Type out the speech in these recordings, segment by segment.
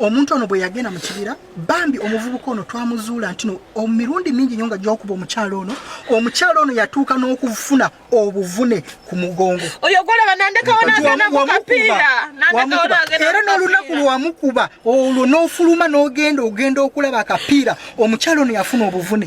omuntu ono bwe yagenda mu kibira bambi omuvubuka ono twamuzuula ntino mirundi mingi nyo nga gyokuba omukyalo ono omukyalo ono yatuuka n'okufuna obuvune ku mugongo era n'olunaku lwamukuba olwo n'ofuluma n'ogenda ogenda okulaba akapiira omukyalo ono yafuna obuvune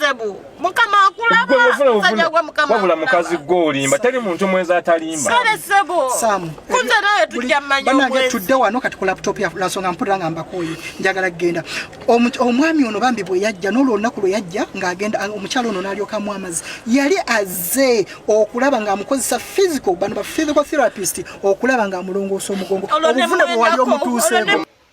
sebu mukama akulabawabula mukazi gwe olimba teri muntu mwezi atalimba kale sebu kunze naye tujja manyabanange tudde wano kati ku laptop yalansonga mpulira nga mbakoye njagala kugenda omwami ono bambi bwe yajja nolwo olunaku lwe yajja ng'agenda omukyalo ono nalyokamu amazi yali aze okulaba ng'amukozesa physical bano ba physical therapist okulaba ng'amulongoosa omugongo obuvune bwe wali omutuuseeko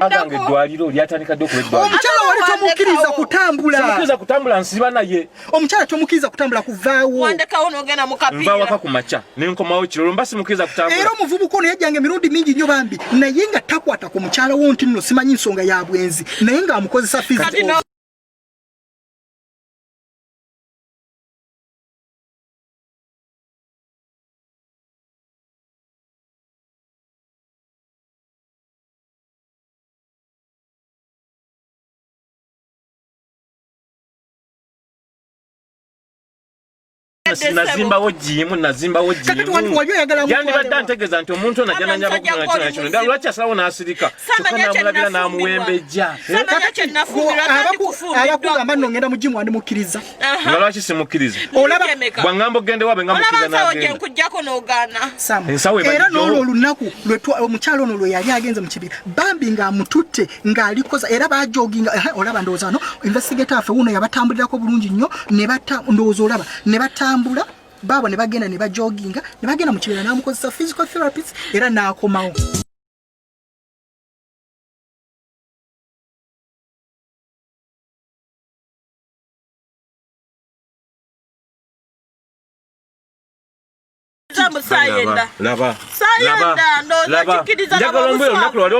aganga eddwaliro lyatandika dde okubaomukyala wali tomukiriza kutambulamukkiriza kutambula nsiba naye omukyala tomukiriza kutambula kuvaawonvawaka ku makya nenkomawo kirolo mba simukiriza kutambula era omuvubuka ono yajjanga emirundi mingi nnyo bambi naye nga takwata ku mukyala wo nti nno simanyi nsonga ya bwenzi naye ng'amukozesa fizi nazimbawo jimu nazimbawo jimuyandibadde antegeeza nti omuntu ono ajja nanyaba kukola kino nakino ddala lwaki asalawo n'asirika kyokka namulabira n'amuwembejja abakugamba nno ngenda mu jimu wandi mukkiriza nga lwaki simukkiriza bwaŋŋamba okugenda ewaabwe nga mukkiriza nagendaera n'olwo olunaku omukyalo ono lwe yali agenze mu kibira bambi ng'amututte ng'alikoza era bajoginga olaba ndowooza no investigator affe wuuno yabatambulirako bulungi nnyo ne batta ndowooza olaba ne batambula baabo ne bagenda ne bajoginga ne bagenda mu kibira n'amukozesa physical therapist era n'akomawo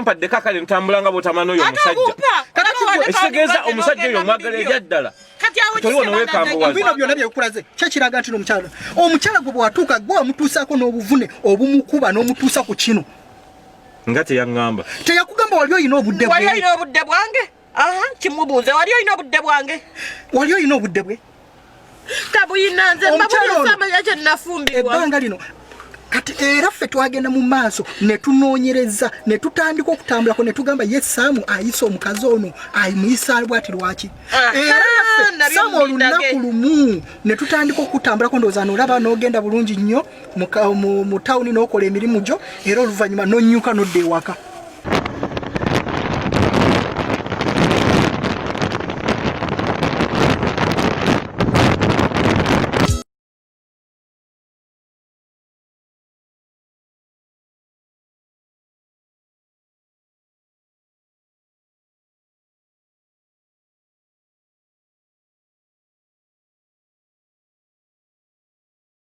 mpaddeko akale ntambula nga bwotamana oyo omusajjaekitegeeza omusajja oyo omwagala ebyaddala bino byona byekulaze kyekiraga nti nomukyala omukyala gwe bwatuuka gwe wamutuusaako n'obuvune obumukuba n'omutuusa ku kino nga teyaŋamba teyakugamba wali olina obudde bwange aha kimubuuze wali olina obudde bwange wali olina obudde bwe tabuyina nze mbabulisamanya kyenafumbirwa ebbanga lino kati era ffe twagenda mu maaso ne tunoonyereza ne tutandika okutambulako ne tugamba ye saamu ayisa omukazi ono ayimuyisa bwati lwaki ah, era ah, saamu olunaku lumu ne tutandika okutambulako ndowooza noolaba n'ogenda bulungi nnyo mu tawuni n'okola emirimu gyo era oluvannyuma n'onnyuka n'odda ewaka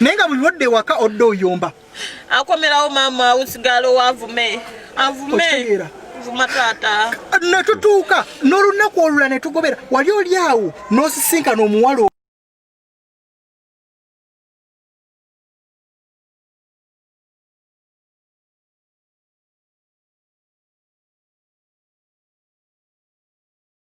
naye nga buli lwodde ewaka odde oyomba akomerawo maama usigala owavume avume vuma taata netutuuka n'olunaku olula netugobera wali oli awo n'osisinkana omuwala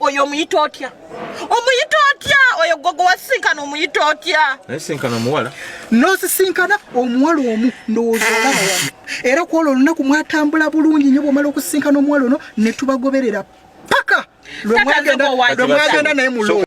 oyo omuyita otya omuyita otya oyo gogo wasisinkana omuyita otya nasisinkana omuwala nosisinkana omuwala omu ndowooza olaba wano era kwolwo olunaku mwatambula bulungi nyo bwomala okusisinkana omuwala ono netubagoberera paka lwemwagenda naye mulo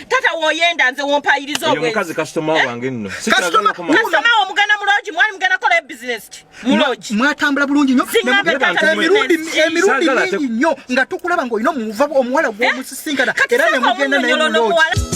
tata woyenda nze wompayiriza obwenzi omukazi kasitoma eh? wange nno kasitoma wo mugana mu loogi mwali mugana kola e bizinesi ki mu loogi mwatambula bulungi nnyo emirundi mingi nnyo nga tukulaba ng'olina omuva omuwala eh? gw'omusisinkana era ne mugenda naye mu loogi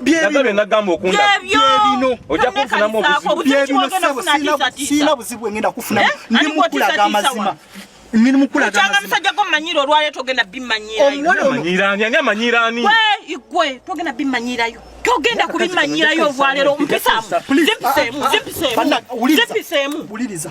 byebino nagamba okunda byebino ojja kufunamu obuzibu byebino sebo sina buzibu engenda kufunamu eh? ndi mukulaga amazima ndi mukulaga amazima musajja go manyira olwale togenda bimanyira omwana manyira ani ani amanyira ani we igwe togenda bimanyira yo togenda kubimanyira yo vwalero mpisamu zimpisemu zimpisemu zimpisemu buliriza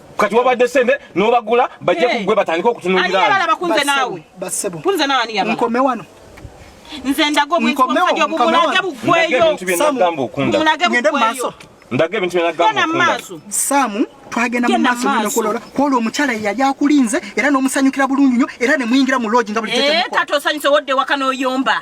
kati wabadde sente nobagula bajja kugwe batandika okutunulirankombe wano nze ndaga obwenzi obumulage bugweyo ndaga ebintu byenagamba mumaaso saamu twagenda mu maaso nokulola kwolwo omukyala yeyali akulinze era n'omusanyukira bulungi nyo era ne muyingira mu loogi nga buli kyekyekati osanyuse wodde waka n'oyomba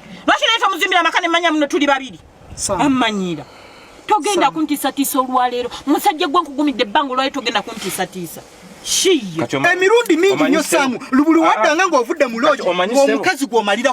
lwaki naye tomuzimbira amaka nemanya muno tuli babiri ammanyira togenda kuntiisatiisa olwaleero musajja gwe nkugumidde ebbanga olwaleero togenda kuntiisatiisa emirundi mingi nyo samu lubuli waddanga ng'ovudde mu loogi omukazi gwomalira